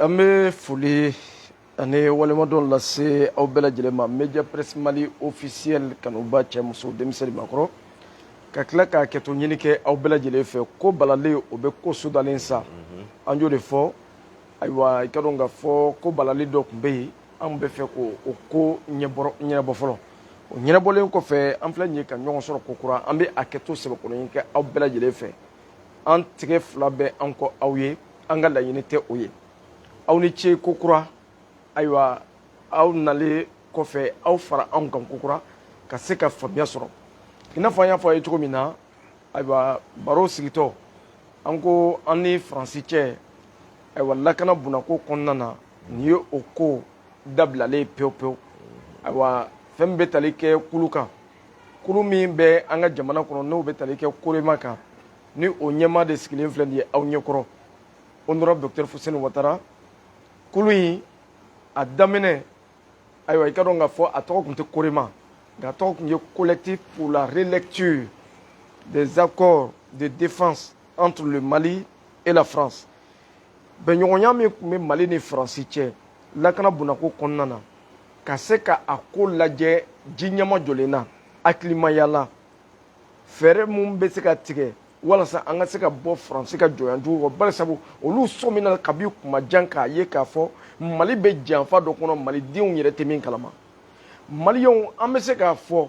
an bɛ foli ani waleɲumandɔn lase aw bɛɛ lajɛlen ma media presse mali officiel kanubaa cɛ muso denmisɛn ni maakɔrɔ ka tila ka hakɛto ɲini kɛ aw bɛɛ lajɛlen fɛ ko balalen o bɛ ko sudalen sa an y'o de fɔ ayiwa i k'a dɔn k'a fɔ ko balali dɔ tun bɛ yen an bɛ fɛ k'o ko ɲɛnabɔ fɔlɔ o ɲɛnabɔlen kɔfɛ an filɛ nin ye ka ɲɔgɔn sɔrɔ ko kura an bɛ hakɛto sɛbɛkɔrɔ ɲini kɛ aw bɛɛ lajɛlen fɛ an tɛgɛ fila bɛ an kɔ aw ye an ka laɲini tɛ o ye aw ni ce ko kura ayiwa aw nalen kɔfɛ aw fara anw kan ko kura ka se ka faamuya sɔrɔ i n'a fɔ an y'a fɔ a ye cogo min na ayiwa baro sigitɔ an ko an ni faransi cɛ ayiwa lakana bondako kɔnɔna na nin ye o ko dabilalen pewu pewu ayiwa fɛn min bɛ tali kɛ kulu kan kulu min bɛ an ka jamana kɔnɔ n'o bɛ tali kɛ korema kan ni o ɲɛmaa de sigilen filɛ nin ye aw ɲɛkɔrɔ honorable docteur fuseni watara kulu in a daminɛ ayiwa i k'a dɔn k'a fɔ a tɔgɔ tun tɛ korema nka a tɔgɔ tun ye collectif pour la relecture des accords de défense entre le mali et la france bɛnɲɔgɔnya min tun bɛ mali ni faransi cɛ lakana bondako kɔnɔna na ka se ka a ko lajɛ ji ɲɛmajɔlen na hakilimaya la fɛɛrɛ min bɛ se ka tigɛ walasa an ka se ka bɔ faransi ka jɔnya jugu kɔ bari sabu olu sɔmina kabi kuma jan k'a ye k'a fɔ mali bɛ janfa dɔ kɔnɔ malidenw yɛrɛ tɛ min kalama maliyɛnw an bɛ se k'a fɔ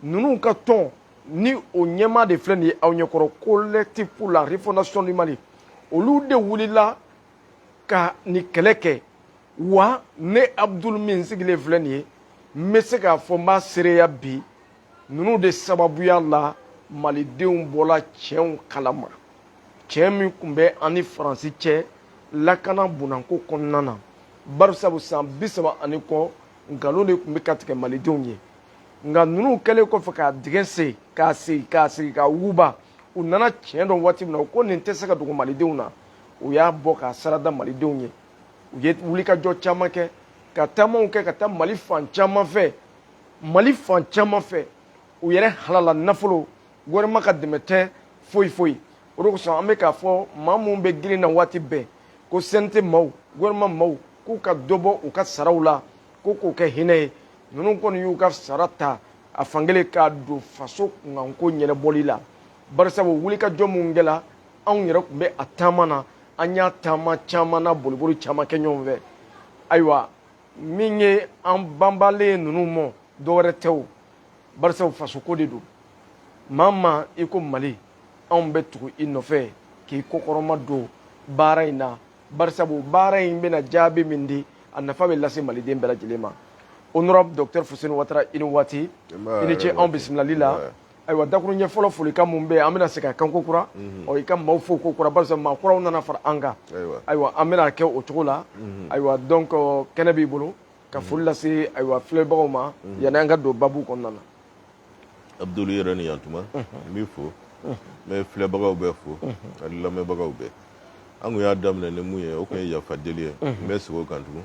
ninnu ka tɔn ni o ɲɛmaa de filɛ nin ye aw ɲɛkɔrɔ collectif pour la refondation du mali olu de wulila ka nin kɛlɛ kɛ wa ne abudulu min sigilen filɛ nin ye n bɛ se k'a fɔ n b'a seereya bi ninnu de sababuya la malidenw bɔla tiɲɛw kalama tiɲɛ min tun bɛ an ni faransi cɛ lakana bondako kɔnɔna na barisabu san bi saba ani kɔ nkalon de tun bɛ ka tigɛ malidenw ye nka ninnu kɛlen kɔfɛ k'a dingɛ sen k'a sɛgɛsɛgɛ k'a wuguba u nana tiɲɛ dɔn waati min na u ko nin tɛ se ka dogo malidenw na u y'a bɔ k'a sarada malidenw ye u ye wulikajɔ caman kɛ ka taamaw kɛ ka taa mali fan caman fɛ mali fan caman fɛ u yɛrɛ halala nafolo gouvernement ka dɛmɛ tɛ foyi foyi o de kosɔn an bɛ k'a fɔ maa minnu bɛ girin na waati bɛɛ ko CNT maaw gouvernement maaw k'u ka dɔ bɔ u ka saraw la ko k'o kɛ hinɛ ye ninnu kɔni y'u ka sara ta a fankelen k'a don faso kunkanko ɲɛnabɔli la barisabu wulikajɔ minnu kɛla anw yɛrɛ tun bɛ a taama na an y'a taama caman na boliboli caman kɛ ɲɔgɔn fɛ ayiwa min ye an banbalen ninnu mɔ dɔwɛrɛ tɛ o barisabu fasoko de don maa maa i ko mali anw bɛ tugu i nɔfɛ k'i kokɔrɔma don baara in na barisabu baara in bɛna jaabi min di a nafa bɛ lase maliden bɛɛ lajɛlen ma honorable docteur fuseni watara i ni waati i ni ce anw bisimilali la ayiwa dakurunɲɛ fɔlɔ folikan mun bɛ yen an bɛna segin a kan ko kura mhm. ɔ i ka maaw fo ko kura barisa maa kuraw nana fara an kan ayiwa an bɛna kɛ o cogo la mhm. ayiwa donc kɛnɛ b'i bolo ka mhm. foli lase ayiwa filɛbagaw ma yanni an ka don babu kɔnɔna na abudulu yɛrɛ ni yantuma n b'i fo n bɛ filɛbagaw bɛɛ fo ani lamɛnbagaw bɛɛ an kun y'a daminɛ ni mun ye o kun ye yafa deli ye n bɛ segin o kan tugun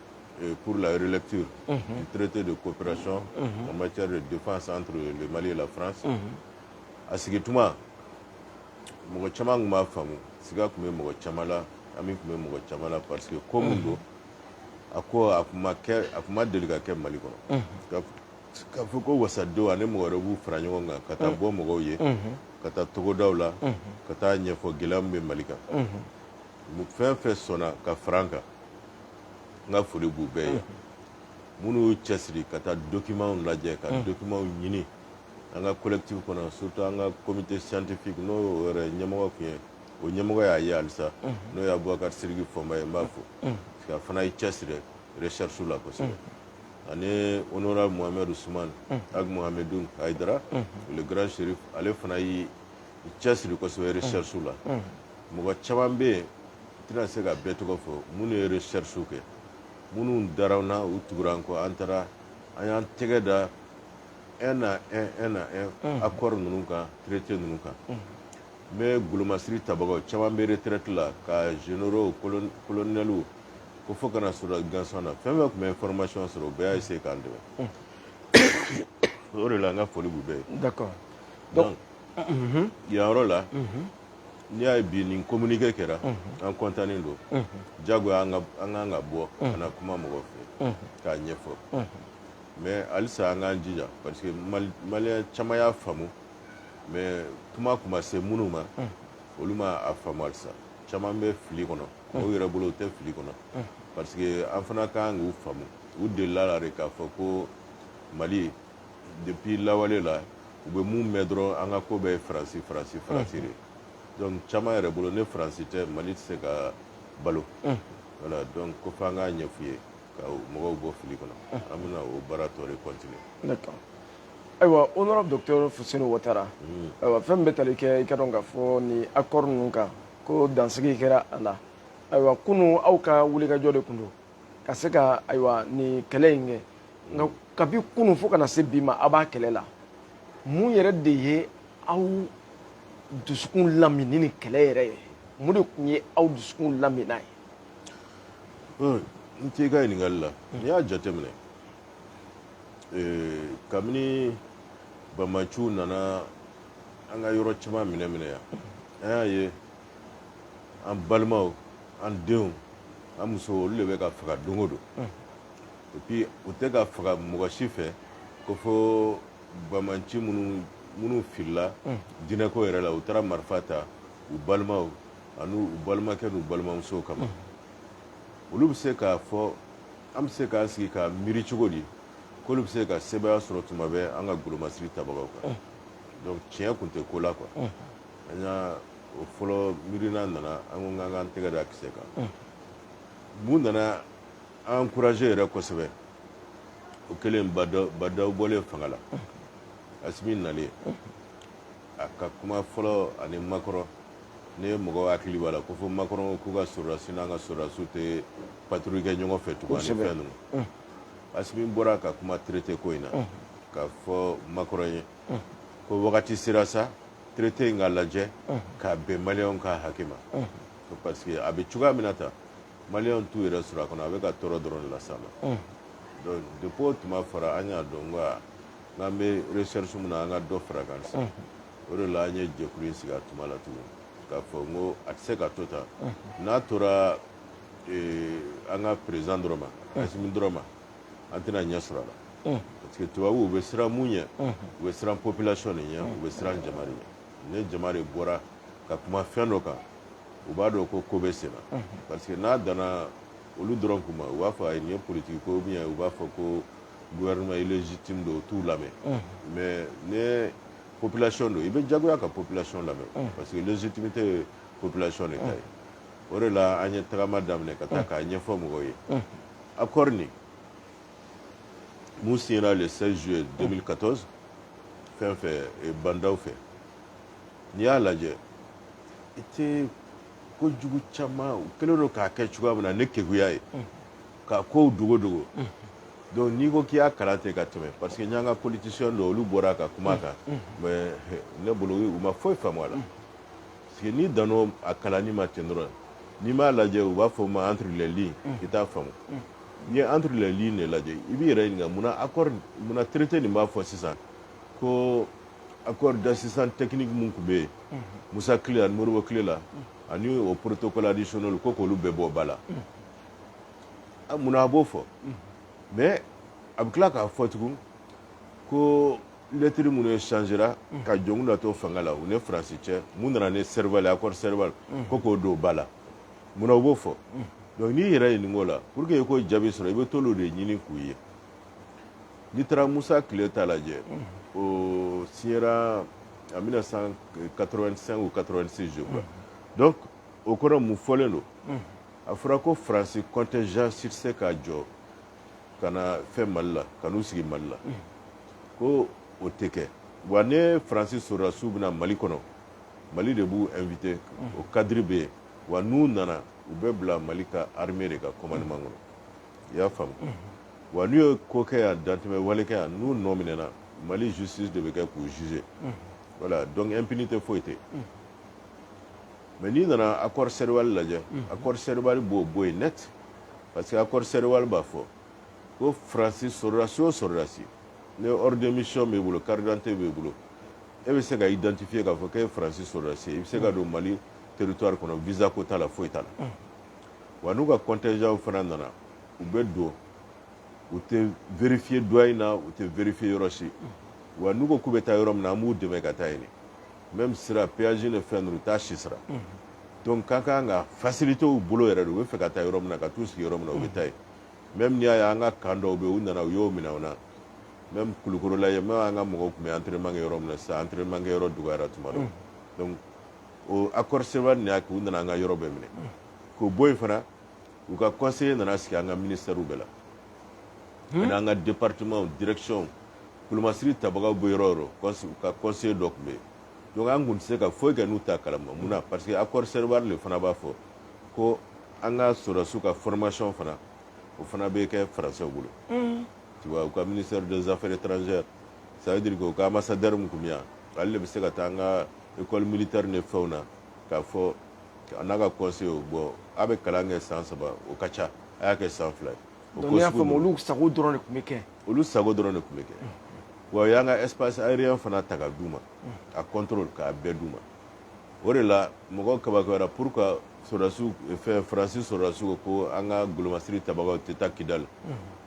pour la relecture mhm. du traité de coopération mhm. en matière de défense entre le Mali et la France mhm. a sigi tuma mɔgɔ caman tun m'a faamu siga tun bɛ mɔgɔ caman la hami tun bɛ mɔgɔ caman la parce que ko min don a ko a tun ma deli ka kɛ Mali kɔnɔ k'a fɔ ko wasadenw ani mɔgɔ wɛrɛ b'u fara ɲɔgɔn kan ka taa bɔ mɔgɔw ye ka taa togodaw la ka taa ɲɛfɔ gɛlɛya min bɛ Mali kan fɛn fɛn sɔnna ka fara an kan n ka foli b'u bɛɛ ye minnu y'u cɛsiri ka taa documentw lajɛ ka documentw ɲini an ka collectif kɔnɔ surtout an ka comité scientifique n'o yɛrɛ ɲɛmɔgɔ tun ye o ɲɛmɔgɔ y'a ye halisa n'o ye abubakar siriki fɔnba ye n b'a fo a fana y'i cɛsiri recherchew la kosɛbɛ ani honorable mohamed ousmane ag mohamedou haïdara le grand chérif ale fana y'i cɛsiri kosɛbɛ recherche la mɔgɔ caman bɛ yen n tɛna se ka bɛɛ tɔgɔ fɔ minnu ye recherche kɛ minnu dara an na u tugura an kɔ an taara an y'an tɛgɛ da un à un un à un accord ninnu kan traité ninnu kan même golomasiri tabagaw caman bɛ retraite la ka généraux colonels ko fo ka na sɔrɔ gansan na fɛn fɛn tun bɛ information sɔrɔ u bɛɛ y'a essayer k'an dɛmɛ o de la n ka foli b'u bɛɛ ye d'accord donc yan yɔrɔ la n'i y'a ye bi nin communiqué kɛra an kɔntannen don diyagoya an kan ka bɔ ka na kuma mɔgɔw fɛ k'a ɲɛfɔ mais halisa an k'an jija parce que maliyɛn caman y'a faamu mais kuma tun ma se minnu ma olu ma a faamu halisa caman bɛ fili kɔnɔ u yɛrɛ bolo u tɛ fili kɔnɔ parce que an fana ka kan k'u faamu u delila a la de k'a fɔ ko mali depuis lawale la u bɛ mun mɛn dɔrɔn an ka ko bɛɛ ye faransi faransi faransi de donc caman yɛrɛ bolo ni faransi tɛ mali tɛ se ka balo voilà donc ko f'an k'a ɲɛf'u ye ka mɔgɔw bɔ fili kɔnɔ an bɛna o baara tɔ de continuer d'accord ayiwa honorable docteur fuseni watara ayiwa fɛn min bɛ tali kɛ i k'a dɔn k'a fɔ nin accord ninnu kan ko dansigi kɛra a la ayiwa kunun aw ka wulikajɔ de tun don ka se ka ayiwa nin kɛlɛ in kɛ nka kabi kunun fo ka na se bi ma aw b'a kɛlɛ la mun yɛrɛ de ye aw dusukun lamin ni nin kɛlɛ yɛrɛ ye mun de tun ye aw dusukun laminnan ye n t'i ka ɲininkali la n'i y'a jateminɛ kabini banbaanciw nana an ka yɔrɔ caman minɛ minɛ yan an y'a ye an balimaw an denw an musow olu de bɛ ka faga don o don et puis u tɛ ka faga mɔgɔ si fɛ ko fo banbaanci minnu filila diinɛko yɛrɛ la u taara marifa ta u balimaw ani u balimakɛ n'u balimamusow kama olu bɛ se k'a fɔ an bɛ se k'an sigi ka miiri cogo di k'olu bɛ se ka sebaaya sɔrɔ tuma bɛɛ an ka golomasiri tabagaw kan donc tiɲɛ kun tɛ ko la quoi an y'a o fɔlɔ miirina nana an ko k'an k'an tɛgɛ da kisɛ kan mun nana an encourager yɛrɛ kosɛbɛ o kɛlen ba ndaw bɔlen fanga la asimi nalen a ka kuma fɔlɔ ani makɔrɔ ni mɔgɔw hakili b'a la ko fo makɔrɔ k'u ka sɔrɔdasi n'an ka sɔrɔdasiw tɛ patrouille kɛ ɲɔgɔn fɛ tugun ani fɛn ninnu asimi bɔra ka kuma traité ko in na k'a fɔ makɔrɔ ye ko wagati sera sa traité in ka lajɛ k'a bɛn maliyɛnw ka hakɛ ma parce que a bɛ cogoya min na tan maliyɛnw t'u yɛrɛ sɔrɔ a kɔnɔ a bɛ ka tɔɔrɔ dɔrɔn de las'an ma donc depuis o kuma fɔra an y'a dɔn ko a n'an bɛ recherche min na an ka dɔ far'a kan sisan o de la an ye jɛkulu in sigi a tuma la tuguni k'a fɔ n ko a tɛ se ka to tan n'a tora an ka président dɔrɔn ma Asimi dɔrɔn ma an tɛna ɲɛ sɔrɔ a la mm. parce que tubabuw u bɛ siran mun ɲɛ mm-hmm. u bɛ siran population de ɲɛ mm. u bɛ siran jama de ɲɛ ni jama de bɔra ka kuma fɛn dɔ kan u b'a dɔn ko ko bɛ sen na mm-hmm. parce que n'a danna olu dɔrɔn kuma u b'a fɔ ayi nin ye politikiko ou bien u b'a fɔ ko gouvernement illégitime don u t'u lamɛn mm-hmm. mais ni population don i bɛ jagoya ka population lamɛn parce que légitimité ye population de ta ye o de la an ye tagama daminɛ ka taa k'a ɲɛfɔ mɔgɔw ye accord nin mun signera le 16 juillet 2014 fɛn fɛ Ba Ndaw fɛ n'i y'a lajɛ i tɛ ko jugu caman u kɛlen don k'a kɛ cogoya min na ni keguya ye k'a kow dogo dogo donc n'i ko k'i y'a kalan ten ka tɛmɛ parce que n y'an ka politicien dɔw olu bɔra ka kuma kan mais ne bolo u ma foyi faamu a la Parce que n'i danna a kalanni ma ten dɔrɔn n'i m'a lajɛ u b'a fɔ o ma entre les lignes i t'a faamu n'i ye entre les lignes de lajɛ i b'i yɛrɛ ɲininka munna accord munna traité nin b'a fɔ sisan ko accord d'assistance technique min tun bɛ yen Musa tile ani Modibo tile la ani o protocole additionnel ko k'olu bɛɛ bɔ ba la munna a b'o fɔ mais a bɛ tila k'a fɔ tugun ko lettre minnu échangera ka jɔnkunda to fanga la u ni faransi cɛ min nana ni serval accord serval ko k'o don ba la munna u b'o fɔ donc n'i yɛrɛ ɲininka o la pour que i k'o jaabi sɔrɔ i bɛ t'olu de ɲini k'u ye n'i taara musa tile ta lajɛ o signera en 1985 ou 86 je crois donc o kɔnɔ mun fɔlen don a fɔra ko faransi contingent si tɛ se ka jɔ ka na fɛn mali la ka n'u sigi mali la ko o tɛ kɛ wa ni faransi sɔrɔdasiw bɛ na mali kɔnɔ mali de b'u inviter o cadre bɛ yen wa n'u nana u bɛ bila mali ka armée de ka commandement kɔnɔ i y'a faamu wa n'u ye ko kɛ yan dantɛmɛ wale kɛ yan n'u nɔ minɛna mali justice de bɛ kɛ k'u juger voilà donc impunité foyi tɛ yen mais n'i nana accord serval lajɛ accord serval b'o bɔ yen net parce que accord serval b'a fɔ ko faransi sɔrɔdasi o sɔrɔdasi ni ordre de mission b'i bolo carte d'identité b'i bolo e bɛ se ka identifier k'a fɔ k'e ye faransi sɔrɔdasi ye i bɛ se ka don mali territoire kɔnɔ visa ko t'a la foyi t'a la wa n'u ka contingent fana nana u bɛ don u tɛ vérifier douane na u tɛ vérifier yɔrɔ si wa n'u ko k'u bɛ taa yɔrɔ min na an b'u dɛmɛ ka taa yen même sira péage ni fɛn ninnu u t'a si sara donc ka kan ka faciliter u bolo yɛrɛ de u bɛ fɛ ka taa yɔrɔ min na ka t'u sigi yɔrɔ min na u bɛ taa yen même n'i y'a ye an ka camp dɔw bɛ yen u nana u y'o minɛ u na même kulukɔrɔ la yen même an ka mɔgɔw tun bɛ entraînement kɛ yɔrɔ min na sisan entraînement kɛ yɔrɔ dɔgɔyara tuma dɔ donc o accord serval nin y'a kɛ u nana an ka yɔrɔ bɛɛ minɛ k'o bɔ yen fana u ka conseiller nana sigi an ka ministère bɛɛ la ani an ka département direction kulumasiri tabagaw bɛ yɔrɔ o yɔrɔ ka conseiller dɔ tun bɛ yen donc an tun tɛ se ka foyi kɛ n'u t'a kalama mun na parce que accord Serval de fana b'a fɔ ko an ka sɔrɔdasiw ka formation fana o fana bɛ kɛ faransɛw bolo mm. tu vois u ka ministère des affaires étrangères ça veut dire que u ka ambassadeur min tun bɛ yan ale de bɛ se ka taa an ka école militaire ni fɛnw na k'a fɔ a n'a ka conseiller bon a bɛ kalan kɛ san saba o ka ca a y'a kɛ san fila ye Donc n'i y'a faamu olu sago dɔrɔn de tun bɛ kɛ olu sago dɔrɔn de tun bɛ kɛ wa u y'an ka espace aérien fana ta ka d'u ma a contrôle k'a bɛɛ d'u ma o de la mɔgɔw kabakoyara pour que sɔrɔdasiw fɛn faransi sɔrɔdasiw ko an ka golomasiri tabagaw tɛ taa kidali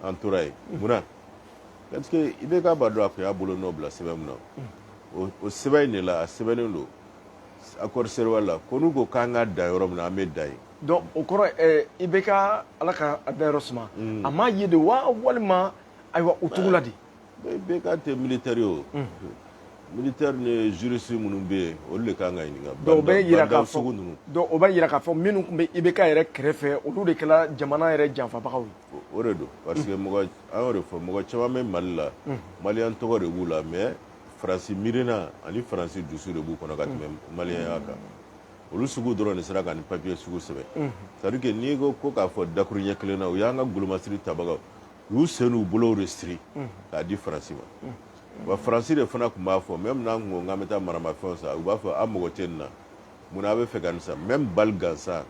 an tora yen munna parce que IBK b'a dɔn a tun y'a bolo nɔ bila sɛbɛn min na o o sɛbɛn in de la a sɛbɛnnen don accord Serval la ko n'u ko k'an ka dan yɔrɔ min na an bɛ dan yen Donc o kɔrɔ ɛɛ IBK Ala ka a dayɔrɔ suma. Unhun. A m'a ye de wa walima ayiwa o cogo la de? IBK tɛ militaire ye o. Unhun. Militaire ni juriste minnu bɛ yen, olu de ka kan ka ɲininka. Donc o b'a yira k'a fɔ, bandit sugu ninnu. Donc o b'a yira k'a fɔ minnu tun bɛ IBK yɛrɛ kɛrɛfɛ, olu de kɛra jamana yɛrɛ janfabagaw ye. O de don. Parce que mɔgɔ, an y'o de fɔ, mɔgɔ caman bɛ Mali la. Unhun. Malien tɔgɔ de b'u la mais Faransi miirina ani Faransi dusu de b'u kɔnɔ ka tɛmɛ malienya kan. olu sugu dɔrɔn de sera ka nin papiye sugu sɛbɛn c'est à dire que n'i ko ko k'a fɔ dakuru ɲɛ kelen na u y'an ka golomasiri tabagaw u y'u sen n'u bolow de siri k'a di faransi ma wa faransi de fana tun b'a fɔ même n'an tun ko k'an bɛ taa maramafɛnw san u b'a fɔ a mago tɛ nin na mun na a bɛ fɛ ka nin san même balle gansan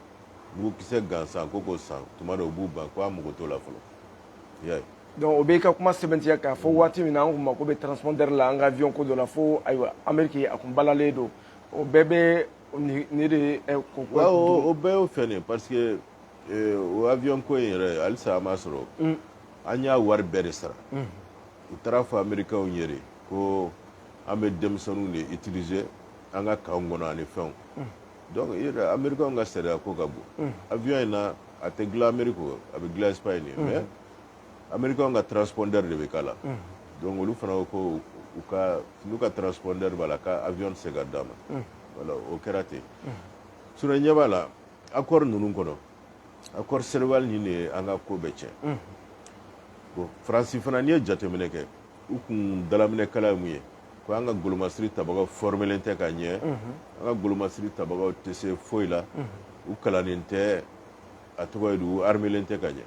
mugukisɛ gansan ko k'o san tuma dɔ u b'u ban ko a mago t'o la fɔlɔ i y'a ye donc o b'i ka kuma sɛbɛntiya k'a fɔ waati min na an tun mako bɛ transpondeur la an ka avion ko dɔ la fo ayiwa ameriki a tun balalen don o bɛɛ bɛ nin de ko o bɛɛ y'o fɛn nin parce que o avion ko in yɛrɛ halisa an m'a sɔrɔ an y'a wari bɛɛ de sara u taara a fɔ americainw ye de ko an bɛ denmisɛnninw de utiliser an ka camp kɔnɔ ani fɛnw donc americain ka sariya ko ka bon avion in na a tɛ dilan ameriki a bɛ dilan Espagne mais americain ka transpondeur de bɛ k'a la donc olu fana ko ko u ka n'u ka transpondeur b'a la ko avion tɛ se ka d'an ma voilà o kɛra ten sinon ɲɛ b'a la accord ninnu kɔnɔ accord Serval nin de ye an ka ko bɛɛ tiɲɛ bon faransi fana n'i ye jateminɛ kɛ u kun dalaminɛkala ye mun ye ko an ka golomasiri tabagaw formelen tɛ ka ɲɛ an ka golomasiri tabagaw tɛ se foyi la u kalannen tɛ a tɔgɔ ye di u armélen tɛ ka ɲɛ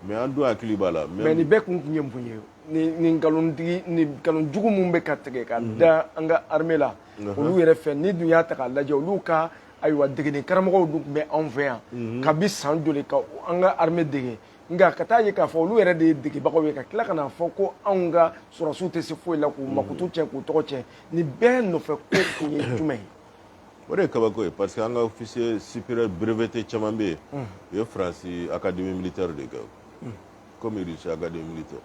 mais an dun hakili b'a la mais nin bɛɛ kun tun ye mun ye nin nkalon jugu minnu bɛ ka tigɛ ka mhm. da an ka armée la mhm. olu yɛrɛ fɛ n'i dun y'a ta k'a lajɛ olu ka ayiwa degeli karamɔgɔw dun tun bɛ anw fɛ yan mhm. kabi san joli ka an ka armée dege nka ka taa ye k'a fɔ olu yɛrɛ de ye degebagaw ye ka tila ka n'a fɔ ko anw ka sɔrɔsiw tɛ se foyi la k'u makutu cɛn k'u tɔgɔ cɛn nin bɛɛ nɔfɛ ko kun ye jumɛn ye o de ye kabako ye parce que an ka officier supérieur breveté caman bɛ yen u ye faransi académie militaire de kɛ comme russie académie militaire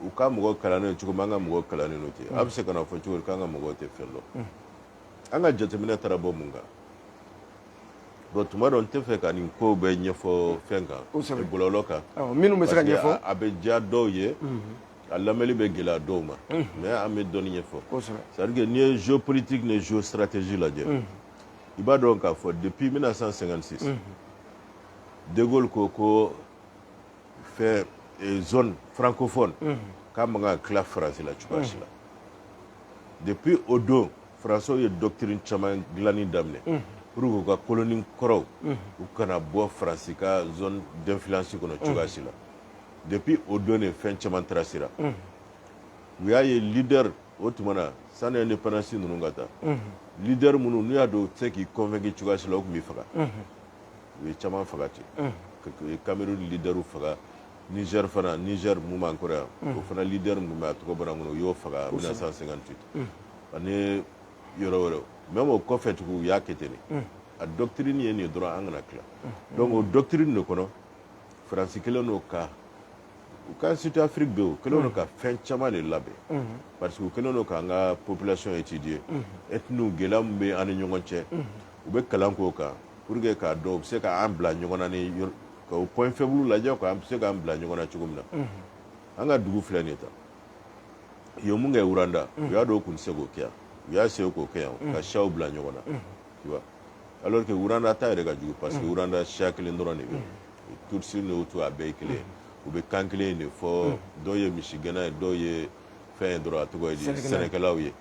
u ka mɔgɔ kalannen cogo min an ka mɔgɔ kalannen don ten a bɛ se ka na fɔ cogo di k'an ka mɔgɔw tɛ fɛn dɔn an ka jateminɛ taara bɔ mun kan bon tuma dɔ n tɛ fɛ ka nin kow bɛɛ ɲɛfɔ fɛn kan bɔlɔlɔ kan minnu bɛ se ka ɲɛfɔ a bɛ diya dɔw ye A lamɛnli bɛ gɛlɛya dɔw ma mɛ an bɛ dɔnni ye fɔ sarike n'i ye zo politigi ni zo siraratez lajɛ i b'a dɔn k'a fɔ de bi bɛna san sɛgɛn sisan deko ko ko fɛ faranko fɔ k'a ma tila farasila cogoyasi la de bi o don faranso ye dɔ kelen caman dilai daminɛ pur ka koloni kɔrɔw u kana bɔ faransi ka dɔnfisi kɔnɔ cogoyasi la depuis o don de fɛn caman tracera u y'a ye leader o tuma na sani indépendance ninnu ka ta leader minnu n'u y'a dɔn u tɛ se k'i convaincu cogoya si la u tun b'i faga u ye caman faga ten u ye Cameroun leaderw faga Niger fana Niger min b'an kɔrɔ yan o fana leader min tun bɛ a tɔgɔ bɔra n kɔnɔ u y'o faga 1958 ani yɔrɔ wɛrɛw même o kɔfɛ tugun u y'a kɛ ten de a doctrine ye nin ye dɔrɔn an kana tila donc o doctrine de kɔnɔ faransi kɛlen don ka u ka surtout afiriki bɛ u kɛlen don ka fɛn caman de labɛn parce que u kɛlen don k'an ka population étudier etniw gɛlɛya min bɛ an ni ɲɔgɔn cɛ u bɛ kalan k'o kan pour que k'a dɔn u bɛ se k'an bila ɲɔgɔn na ni ka o point faible lajɛ quoi an bɛ se k'an bila ɲɔgɔn na cogo min na an ka dugu filɛ nin ye tan u ye mun kɛ wuranda u y'a dɔn u tun tɛ se k'o kɛ yan u y'a essayé k'o kɛ yan ka siyaw bila ɲɔgɔn na tu vois alors que wuranda ta yɛrɛ ka jugu parce que wuranda siya kelen dɔrɔn de bɛ yen tutsi ni hutu a bɛɛ ye kelen ye u bɛ kan kelen in de fɔ dɔw ye misigɛnna ye dɔw ye fɛn ye dɔrɔn a tɔgɔ ye di sɛnɛkɛlaw ye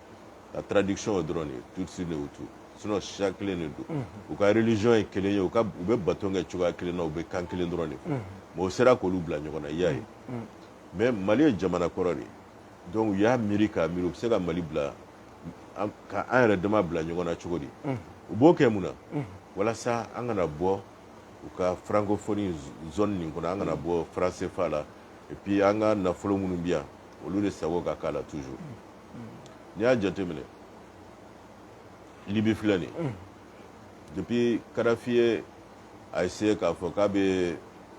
a traduction ye dɔrɔn de ye tutsi ni hutu sinon siya kelen de don u ka religion ye kelen ye u ka u bɛ bato kɛ cogoya kelen na u bɛ kan kelen dɔrɔn de fɔ mais u sera k'olu bila ɲɔgɔn na i y'a ye mais mali ye jamana kɔrɔ de ye donc u y'a miiri k'a miiri u bɛ se ka mali bila ka an yɛrɛ dama bila ɲɔgɔn na cogo di u b'o kɛ mun na walasa an kana bɔ u ka francophonie zone nin kɔnɔ an kana bɔ franc CFA la et puis an ka nafolo minnu bi yan olu de sago ka k'a la toujours n'i y'a jateminɛ libi filɛ nin depuis kadafi ye a essayé k'a fɔ k'a bɛ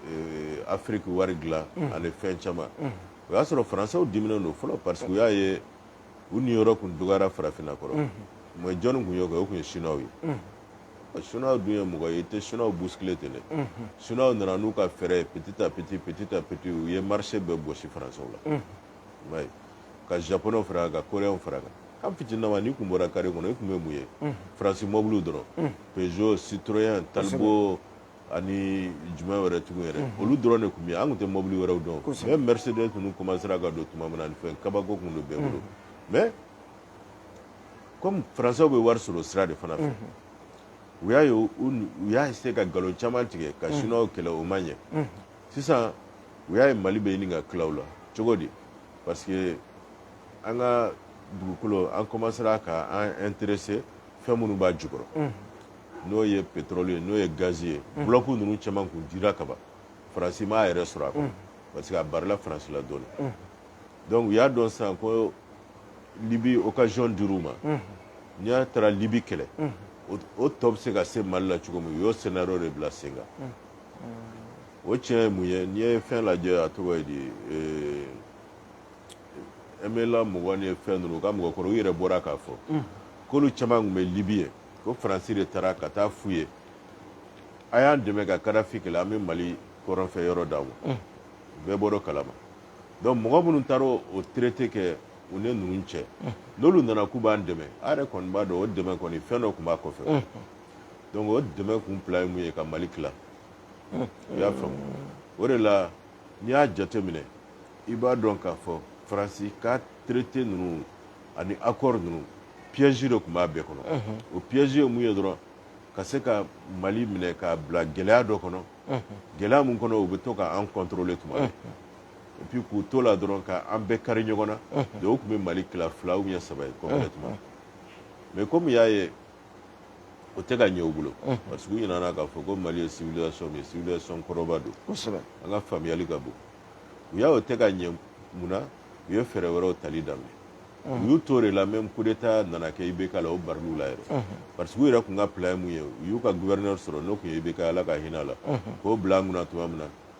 euh, afiriki wari dilan ani fɛn caman o y'a sɔrɔ faransɛw diminen don fɔlɔ parce que u y'a ye u niyɔrɔ tun dɔgɔyara farafinna kɔrɔ mais jɔnni tun y'o kɛ o tun ye chinois ye chinois dun ye mɔgɔ ye i tɛ chinois bousculer ten dɛ chinois nana n'u ka fɛɛrɛ petit à petit petit à petit u ye marché bɛɛ gosi français la ka japonais fara kan ka coréens fara kan an fitininama n'i tun bɔra carré kɔnɔ e tun bɛ mun ye faransi mɔbili dɔrɔn peugeot citroën talbot ani jumɛn wɛrɛ tugun yɛrɛ olu dɔrɔn de tun bɛ yen an tun tɛ mɔbili wɛrɛw dɔn même mercedes ninnu commencera ka don tuma min na fɛn kabako tun don bɛɛ bolo mais comme français bɛ wari sɔrɔ sira de fana fɛ u y'a essayé ka nkalon caman tigɛ ka chinois kɛlɛ o ma ɲɛ sisan u y'a ye mali bɛ ɲini ka tila u la cogo di parce que an ka dugukolo an commencera ka an intéressé fɛn minnu b'a jukɔrɔ n'o ye pétrole ye n'o ye gaz ye bloc ninnu caman kun dira kaban faransi m'a yɛrɛ sɔrɔ a kɔnɔ parce que a barila faransi la dɔɔni donc u y'a dɔn sisan ko libi occasion dir'u ma n'i y'a taara libi kɛlɛ o tɔ bɛ se ka se mali la cogo min u y'o scénario de bila sen kan o tiɲɛ ye mun ye n'i ye fɛn lajɛ a tɔgɔ ye di MNLA mɔgɔ ni fɛn ninnu u ka mɔgɔkɔrɔbaw u yɛrɛ bɔra k'a fɔ k'olu caman tun bɛ libi yen ko faransi de taara ka taa f'u ye a y'an dɛmɛ ka kadafi kɛlɛ an bɛ mali kɔrɔnfɛ yɔrɔ d'a ma mm. bɛɛ bɔr'o kalama donc mɔgɔ minnu taara o traité kɛ u ni ninnu cɛ mm. n'olu nana k'u b'an dɛmɛ a yɛrɛ kɔni b'a dɔn o dɛmɛ kɔni fɛn dɔ tun b'a kɔfɛ mm. donc o dɛmɛ kun fila ye mun ye ka mali tila i y'a faamu o de la n'i y'a jateminɛ i b'a dɔn k'a fɔ faransi ka traité ninnu ani accord ninnu piège de tun b'a bɛɛ kɔnɔ o piège ye mun ye dɔrɔn ka se ka mali minɛ k'a bila gɛlɛya dɔ kɔnɔ gɛlɛya mun kɔnɔ u bɛ to ka an contrôler tuma bɛɛ et puis k'u to la dɔrɔn ka an bɛɛ kari ɲɔgɔn na donc o tun bɛ mali tila fila ou bien saba ye complètement mais comme u y'a ye o tɛ ka ɲɛ u bolo parce que u ɲinana k'a fɔ ko mali ye civilisation min ye civilisation kɔrɔba don an ka faamuyali ka bon u y'a o tɛ ka ɲɛ mun na u ye fɛɛrɛ wɛrɛw tali daminɛ u y'u to de la même coup d'état nana kɛ IBK la o baril'u la yɛrɛ parce que u yɛrɛ tun ka plan ye mun ye u y'u ka gouverneur sɔrɔ n'o tun ye IBK ye Ala ka hinɛ a la k'o bila an kunna tuma min na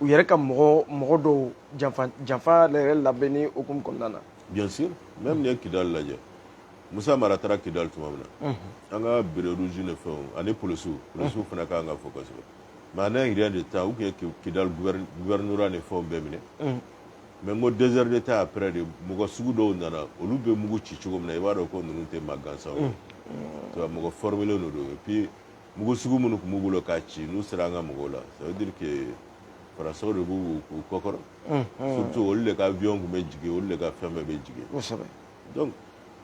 u yɛrɛ ka mɔgɔ dɔw janfa yɛrɛ labɛnni hukumu kɔnɔna na bien sûr même n'i ye kidali lajɛ musa mara taara kidali tuma min na mhm. an ka béret rouge ni fɛnw ani polisiw polisiw mhm. fana ka kan ka fɔ kosɛbɛ mais en un rien de temps u kun ye kidali gouvernorat ni fɛnw bɛɛ minɛ mhm. mais n ko deux heures de temps après de mɔgɔ sugu dɔw nana olu bɛ mugu ci cogo min na i b'a dɔn ko ninnu tɛ maa gansanw ye mɔgɔ formelenw de don et puis mugu sugu minnu kun b'u bolo k'a ci n'u sera an ka mɔgɔw la ça veut dire que faransaw de b'u kɔkɔrɔ surtout olu de ka avion kun bɛ jigin olu de ka fɛn bɛɛ bɛ jigin kosɛbɛ donc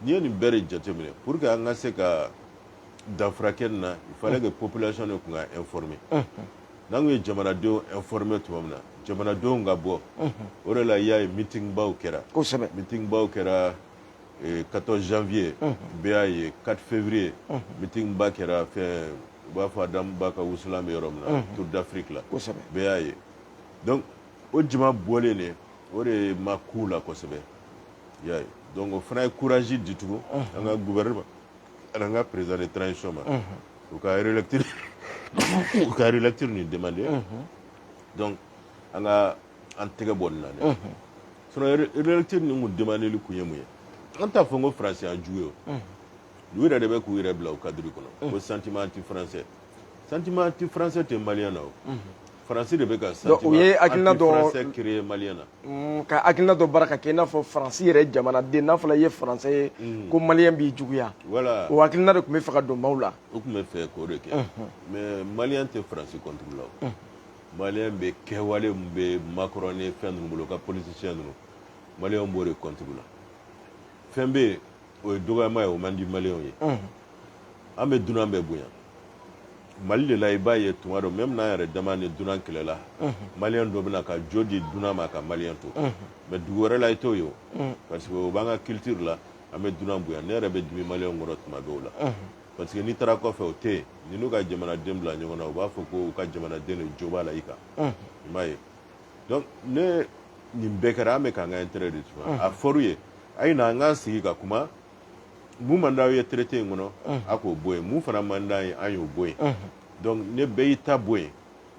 n'i ye nin bɛɛ de jateminɛ pour que an ka se ka danfara kɛ nin na il fallait que population de kun ka informer n'an kun ye jamanadenw informer tuma min na jamanadenw ka bɔ o de la i y'a ye meeting baw kɛra kosɛbɛ meeting baw kɛra katɔ zfiye bɛɛ y'a ye kari ffiuru yetimba kɛra fɛn u b'a fɔ a da ba ka wusulan bɛ yɔrɔ min na tu dafiri bɛɛ y'a ye o jama bɔlen de o de ye ma ku la kosɛbɛ y'a o fana ye kuraz ditu an ka gɛ ma an ka perezre ta sɔ ma u ka yɛrɛlɛt u ka yɛrɛlɛt ni den de an ka an tɛgɛ bɔ nin na dɛ sinon relecture nin kun demandeli kun ye mun ye an t'a fɔ ko faransi y'an jugu ye o u yɛrɛ de bɛ k'u yɛrɛ bila o cadre kɔnɔ ko sentiment anti français sentiment anti français tɛ maliyɛn na o faransi de bɛ ka sentiment anti français créer maliyɛn na ka hakilina dɔ baara ka kɛ i n'a fɔ faransi yɛrɛ jamanaden n'a fɔra i ye faransɛ ye ko maliyɛn b'i juguya voilà o hakilina de tun bɛ fɛ ka don maaw la u tun bɛ fɛ k'o de kɛ mais maliyɛn tɛ faransi contre la o Maliyɛn bɛ kɛwale min bɛ macron ni fɛn ninnu bolo ka politicien ninnu maliyɛn b'o de contre la fɛn bɛ yen o ye dɔgɔyama ye o man di maliyɛnw ye an bɛ dunan bɛɛ bonya mali de la i b'a ye tuma dɔ même n'an yɛrɛ dama ni dunan kɛlɛla maliyɛn dɔ bɛ na ka jo di dunan ma ka maliyɛn to mais dugu wɛrɛ la i t'o ye parce que o b'an ka culture la an bɛ dunan bonya ne yɛrɛ bɛ dimi maliyɛn kɔrɔ tuma dɔw la parce que n'i taara kɔfɛ o tɛ yen n'i n'u ka jamanaden bila ɲɔgɔn na u b'a fɔ ko u ka jamanaden de jo b'a la i kan i m'a ye donc ni nin bɛɛ kɛra an bɛ k'an ka intérêt de tuba a fɔr'u ye a ye na an k'an sigi ka kuma mun man d'aw ye traité in kɔnɔ a k'o bɔ yen mun fana man d'an ye an y'o bɔ yen donc ni bɛɛ y'i ta bɔ yen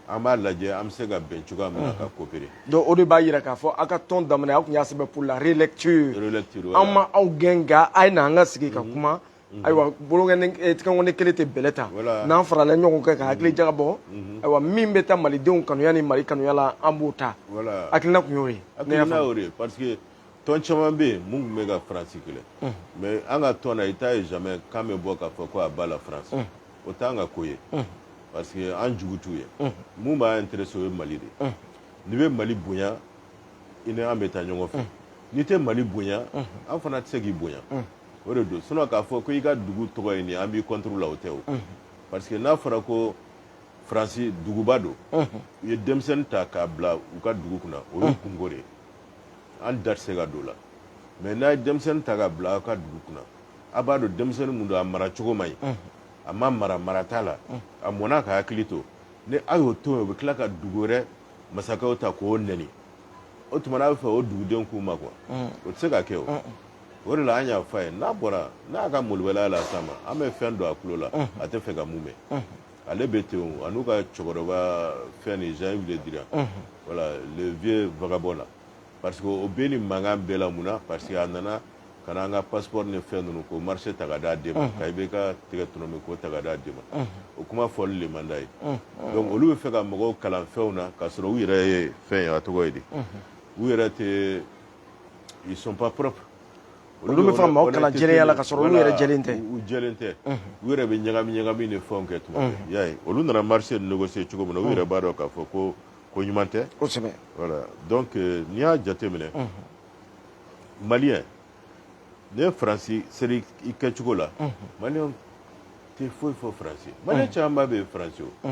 an b'a lajɛ an bɛ se ka bɛn cogoya min na ka coopérer donc o de b'a yira k'a fɔ aw ka tɔn daminɛ aw tun y'a sɛbɛn pour la relecture relecture an ma aw gɛn nka a ye na an ka sigi ka kuma Mhm. ayiwa bolokɔni kelen tɛ bɛlɛ ta n'an farala ɲɔgɔn kan ka hakili jagabɔ mhm. ayiwa min bɛ taa malidenw kanuya ni mali kanuya la an b'o ta hakilina tun y'o ye hakilina y'o de ye parce que tɔn caman bɛ yen mun tun bɛ ka faransi kɛlɛ mhm. mais an ka tɔn na i t'a ye jamais k'an bɛ bɔ k'a fɔ ko à bas la France o t'an ka ko ye parce que an jugu t'u ye mun b'an intéressé o ye mali de ye n'i bɛ mali bonya i ni an bɛ taa ɲɔgɔn fɛ n'i tɛ mali bonya an fana tɛ se k'i bonya o de don sinon k'a fɔ ko i ka dugu tɔgɔ ye nin an b'i contre la o tɛ o parce que n'a fɔra ko faransi duguba don u ye denmisɛnnin ta k'a bila u ka dugu kunna o y'u kunko de ye an da tɛ se ka don o la mais n'a ye denmisɛnnin ta k'a bila aw ka dugu kunna a b'a dɔn denmisɛnnin mun don a mara cogo man ɲi a ma mara mara t'a la a mɔna ka hakili to ni aw y'o to yen o bɛ tila ka dugu wɛrɛ masakɛw ta k'o nɛni o tuma n'a bɛ fɛ o dugudenw k'u makun wa mm. o tɛ se ka kɛ o mm. o de la an y'a fɔ a ye n'a bɔra n'a ka molobaliya la sa ma an bɛ fɛn don a tulo la mm. a tɛ fɛ ka mun mɛn ale bɛ ten o a n'u ka cɛkɔrɔba fɛn nin jean yves le drian voilà le vieux vagabond là parce que o bɛ nin mankan bɛɛ la mun na parce que a nana ka na an ka passeport ni fɛn ninnu ko marché ta ka d'a den ma ka IBK tɛgɛ tɔnɔmi k'o ta ka d'a den ma o kuma fɔli le man d'a ye donc olu bɛ fɛ ka mɔgɔw kalan fɛnw na ka sɔrɔ u yɛrɛ ye fɛn ye a tɔgɔ ye di u yɛrɛ tɛ ils sont pas propres olu bɛ fɛ ka mɔgɔw kalan jɛya la ka sɔrɔ u yɛrɛ jɛlen tɛ u jɛlen tɛ u yɛrɛ bɛ ɲagami ɲagami ni fɛnw kɛ tuma bɛɛ i y'a ye olu nana marché négocier cogo min na u yɛrɛ b'a dɔn k'a fɔ ko ko ɲuman tɛ kosɛbɛ donc n'i y'a jate minɛ maliyɛn ne ye faransi chéri ye kɛcogo la maliyɛn tɛ foyi fɔ faransi maliyɛn camanba bɛ faransi o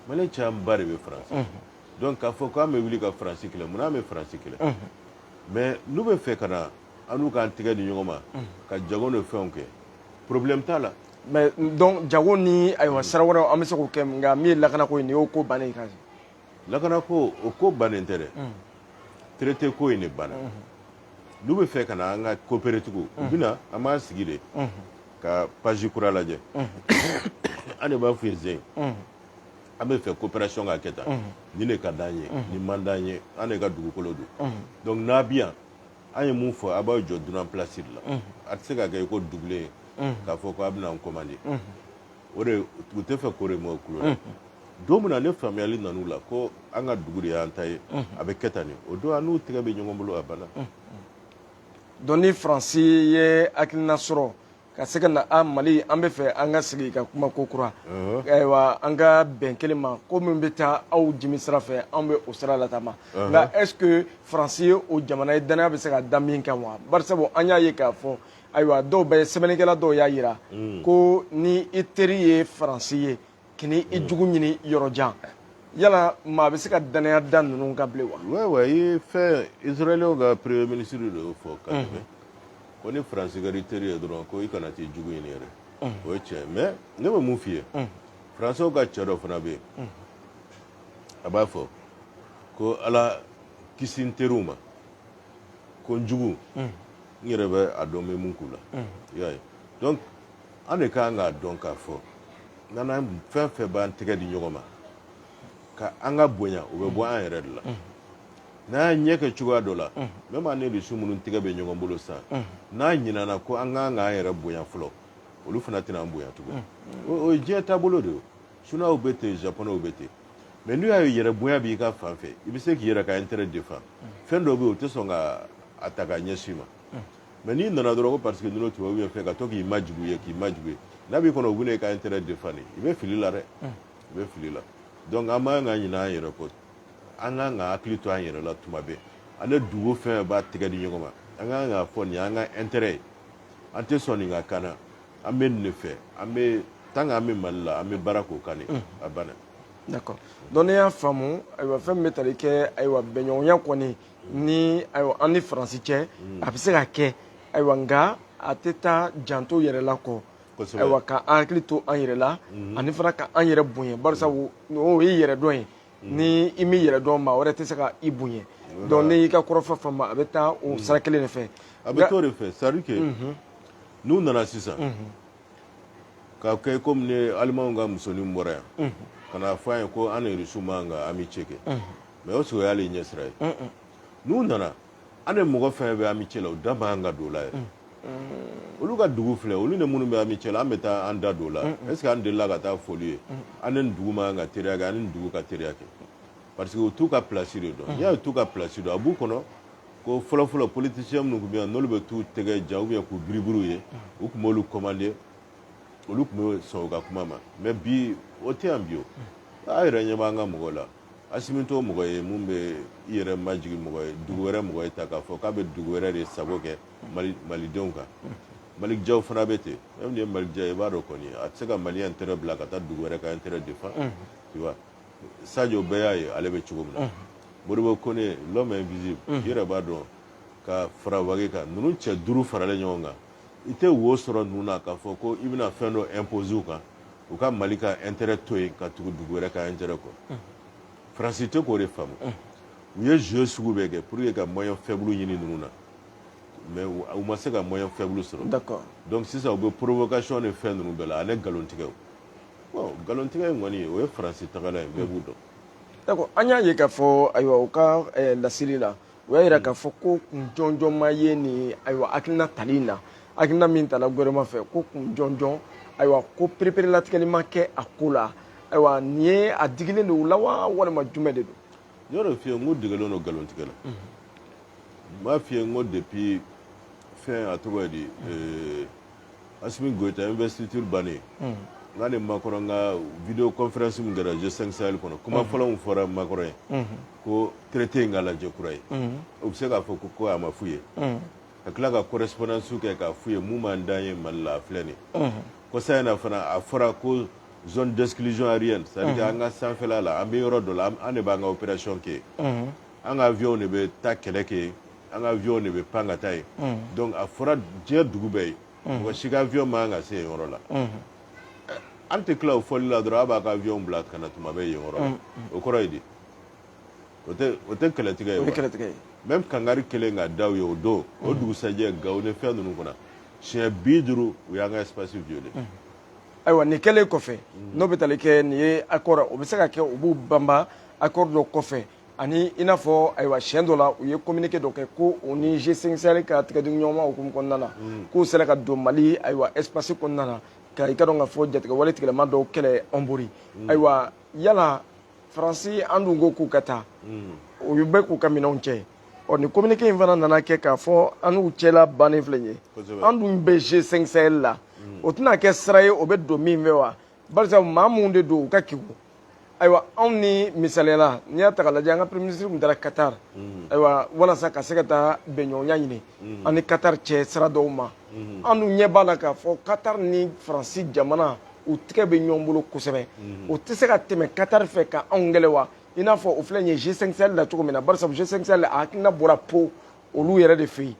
maliyɛn camanba de bɛ faransi donc k'a fɔ k'an bɛ wuli ka faransi kɛlɛ mun n'an bɛ faransi kɛlɛ mais n'u bɛ fɛ ka na an n'u k'an tɛgɛ di ɲɔgɔn ma ka jago ni fɛnw kɛ problème t'a la mais donc jago ni ayiwa sira wɛrɛw an bɛ se k'o kɛ nka min ye lakanako ye nin y'o ko bannen ye lakanako o ko bannen tɛ dɛ traité ko in de banna n'u bɛ fɛ ka na an ka coopérer tugun u bɛ na an b'an sigi de ka page kura lajɛ an de b'a f'u ye zen an bɛ fɛ coopération ka kɛ tan nin de ka d'an ye nin man d'an ye an de ka dugukolo don donc n'a bɛ yan an ye mun fɔ a bɛ jɔ dunan place de la a tɛ se ka kɛ i ko dugulen k'a fɔ ko a bɛna an commandé o de u tɛ fɛ k'o de mɛn u tulo la don min na ni faamuyali nan'u la ko an ka dugu de y'an ta ye a bɛ kɛ tan de o don an n'u tɛgɛ bɛ ɲɔgɔn bolo a banna donc ni faransi ye hakilina sɔrɔ ka se ka na a mali an bɛ fɛ an ka sigi ka kuma kokura ayiwa an ka bɛn kelen ma ko min bɛ taa aw jimi sira fɛ anw bɛ o sira lataama nka est ce que faransi ye o jamana ye danaya bɛ se ka da min kan wa barisabu an y'a ye k'a fɔ ayiwa dɔw bɛ sɛbɛnnikɛla dɔw y'a yira mm. ko ni i teri ye faransi ye kana i mm. jugu ɲini yɔrɔ jan yala maa bɛ se ka dannaya da ninnu kan bilen wa. ouais i fɛn israɛliw ka premier ministre de y'o fɔ ka tɛmɛ ko ni faransi kɛra i teri ye dɔrɔn ko i kana t'i jugu ɲini yɛrɛ mm. o ye tiɲɛ mais ne bɛ mun f'i ye faransiw ka cɛ dɔ fana bɛ yen a b'a fɔ ko ala kisi n teriw ma. ko n jugu n yɛrɛ bɛ a dɔn n bɛ mun k'u la i y'a ye donc an de kan k'a dɔn k'a fɔ n'an fɛn fɛn b'an tɛgɛ di ɲɔgɔn ma ka an ka bonya o bɛ bɔ an yɛrɛ de la n'an y'a ɲɛ kɛ cogoya dɔ la même an ni rusu minnu tɛgɛ bɛ ɲɔgɔn bolo sisan n'an ɲinana ko an kan k'an yɛrɛ bonya fɔlɔ olu fana tɛna an bonya tugun o ye diɲɛ taabolo de ye Chinois bɛ ten Japonais bɛ ten mais n'u y'a ye yɛrɛ bonya b'i ka fan fɛ i bɛ se k'i yɛrɛ ka intérêt défend fɛn dɔw bɛ yen u tɛ sɔn ka a ta ka ɲɛsin i ma mais n'i nana dɔrɔn ko parce que ninnu tubabu bɛ fɛ ka to k'i majigin u ye k'i majigin u ye n'a b'i kɔnɔ u bɛna i ka intérêt défend de i bɛ fili la dɛ i bɛ fili la donc an man kan ka ɲinɛ an yɛrɛ kɔ an kan ka hakili to an yɛrɛ la tuma bɛɛ an ni dugu fɛn b'an tɛgɛ di ɲɔgɔn ma an ka kan k'a fɔ nin y'an ka intérêt ye an tɛ sɔn nin ka kan na an bɛ nin de fɛ an bɛ tan an bɛ mali la an bɛ baara k'o kan a banna donc ne y'a faamu ayiwa fɛn min bɛ tali kɛ ayiwa bɛnɲɔgɔnya kɔni ni ayiwa an ni faransi cɛ a bɛ se ka kɛ ayiwa nka a tɛ taa janto yɛrɛ la kɔ ayiwa ka an hakili to an yɛrɛ la ani fana ka an yɛrɛ bonya sabu o ye yɛrɛ dɔn ye ni i m'i yɛrɛ dɔn maa wɛrɛ tɛ se ka i bonya donc ne y'i ka kɔrɔfɔ faamu a bɛ taa o sira kelen de fɛ a bɛ t'o de fɛ c'est à dire que n'u nana sisan k'a kɛ komi ni alimanw ka musonin bɔra yan ka na fɔ an ye ko an ni rusu man kan ka amitié kɛ mais est ce que o y'ale ɲɛsira ye n'u nana an ni mɔgɔ fɛn bɛ amitié la u da man kan ka don o la yɛrɛ olu ka dugu filɛ olu ni minnu bɛ amitié la an bɛ taa an da don o la est ce que an delila ka t'a fɔ olu ye an ni dugu man kan ka teriya kɛ an ni dugu ka teriya kɛ parce que u t'u ka place de dɔn n'i y'a ye u t'u ka place dɔn a b'u kɔnɔ ko fɔlɔfɔlɔ politicien minnu tun bɛ yan n'olu bɛ t'u tɛgɛ ja ou bien k'u biribiri u ye u tun b'olu commander olu tun bɛ sɔn u ka kuma ma mais bi o tɛ yan bi o a yɛrɛ ɲɛ b'an ka mɔgɔ la asimi t'o mɔgɔ ye min bɛ i yɛrɛ majigi mɔgɔ ye dugu wɛrɛ mɔgɔ ye ta k'a fɔ k'a bɛ dugu wɛrɛ de sago kɛ malidenw kan malick diaw fana bɛ ten même n'i ye malick diaw ye i b'a dɔn kɔni a tɛ se ka mali intérêt bila ka taa dugu wɛrɛ ka intérêt défend tu vois Sajo bɛɛ y'a ye ale bɛ cogo min na Modibo Kone l'homme invisible i yɛrɛ b'a dɔn ka fara Wage kan ninnu cɛ duuru faralen ɲɔgɔn kan i tɛ wo sɔrɔ ninnu na k'a fɔ ko i bɛna fɛn dɔ imposer u kan u ka mali ka intérêt to yen ka tugu dugu wɛrɛ ka intérêt kɔ Faransi tɛ k'o de faamu u ye jeu sugu bɛɛ kɛ pour que ka moyen faible ɲini ninnu na mais u ma se ka moyen faible sɔrɔ donc sisan u bɛ provocation ni fɛn ninnu bɛɛ la ani nkalontigɛ nkalontigɛ in kɔni o ye faransi tagala ye bɛɛ b'u dɔn d'accord an y'a ye k'a fɔ ayiwa u ka eh, laseli la u y'a jira k'a fɔ ko kun jɔnjɔn ma ye nin ayiwa hakilina tali in na hakilina min tala gouvernement fɛ ko kun jɔnjɔn ayiwa ko pereperelatigɛli ma kɛ a ko la ayiwa nin ye a digilen don u la wa walima jumɛn de don n y'o f'i ye n k'u degelen don nkalontigɛ la n b'a f'i ye n ko depuis fɛn a tɔgɔ ye di eh, Asimi Goyita investiture bannen, unhun, n k'a ni Makɔrɔn ka video conference min kɛra G5 Sahel kɔnɔ, kuma fɔlɔ min fɔra Makɔrɔn ye, unhun, ko traité in ka lajɛ kura ye, unhun, u bɛ se k'a fɔ ko a ma f'u ye, unhun, ka tila ka correspondance kɛ k'a f'u ye mun man d'an ye Mali la a filɛ nin ye, unhun, kɔsa in na fana a fɔra ko zone d'exclusion aérienne c'est à dire que an ka sanfɛla la an bɛ yɔrɔ dɔ la an de b'an ka opération kɛ yen, unhun, an ka avions de bɛ taa kɛlɛ kɛ yen an ka avion de bɛ pan ka taa yen donc a fɔra diɲɛ dugu bɛɛ ye mɔgɔ si ka avion man kan ka se yen yɔrɔ la an tɛ tila o fɔli la dɔrɔn a b'a ka avion bila ka na tuma bɛɛ yen yɔrɔ o kɔrɔ ye di o tɛ kɛlɛtigɛ ye même kangari kɛlen ka da u ye o don o dugusɛjɛ Gawo ni fɛn ninnu kɔnɔ siɲɛ bi duuru u y'an ka espace violé ayiwa nin kɛlen kɔfɛ n'o bɛ tali kɛ nin ye accord o bɛ se ka kɛ u b'u banba accord dɔ kɔfɛ ani i n'a fɔ ayiwa siɲɛ dɔ la u ye communiqué dɔ kɛ ko u ni G5 Sahel ka tigɛdiɲɔgɔnma hukumu kɔnɔna na mm. k'u sera ka don Mali ayiwa espace kɔnɔna na ka i ka dɔn k'a fɔ jatigɛwale tigilamaa dɔw kɛlɛ Ɔnbori mm. ayiwa yala Faransi an dun ko k'u ka taa mm. u bɛ k'u ka minɛnw cɛ ɔ nin communiqué in fana nana kɛ k'a fɔ an n'u cɛla bannen filɛ ye an dun bɛ G5 Sahel la o tɛna kɛ sira ye u bɛ don min fɛ wa bari sabu maa minnu de don u ka kegun ayiwa anw ni misaliya la n'i y'a ta k'a lajɛ an ka premier ministre tun taara qatar mhm. ayiwa walasa ka se ka taa bɛnɲɔgɔnya ɲini mhm. an ni qatar cɛ sira dɔw ma mhm. an dun ɲɛ b'a la k'a fɔ qatar ni faransi jamana u tɛgɛ bɛ ɲɔgɔn bolo kosɛbɛ u tɛ se ka tɛmɛ qatar fɛ ka anw kɛlɛ wa i n'a fɔ o filɛ nin ye g5 sahel la cogo min na bari sabu g5 sahel a hakilina bɔra Pau olu yɛrɛ de fɛ yen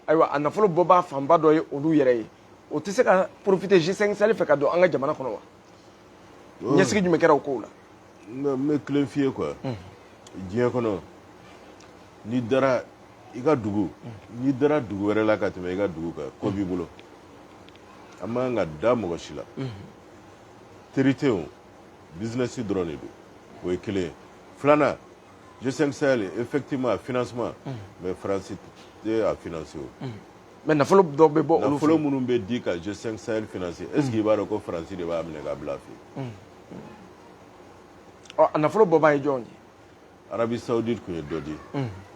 ayiwa a nafolo bɔbaa fanba dɔ ye olu yɛrɛ ye o tɛ se ka profiter G5 Sahel fɛ ka don an ka jamana kɔnɔ wa oh. ɲɛsigi jumɛn kɛra o kow la non n bɛ kelen f'i ye quoi diɲɛ kɔnɔ n'i dara i ka dugu n'i dara dugu wɛrɛ la ka tɛmɛ i ka dugu kan ko b'i bolo an man kan ka da mɔgɔ si la teri tɛ yen o bizinɛsi dɔrɔn de don o ye kelen ye filanan G5 Sahel effectivement a financement mais France tɛ a financer o. Mais nafolo dɔ bɛ bɔ olu fɛ. Nafolo minnu bɛ di ka G5 Sahel financer est ce que i b'a dɔn ko France de b'a minɛ k'a bila a fɛ yen. Ɔ a nafolo bɔbaa ye jɔn ye? Arabie Saoudite tun ye dɔ di.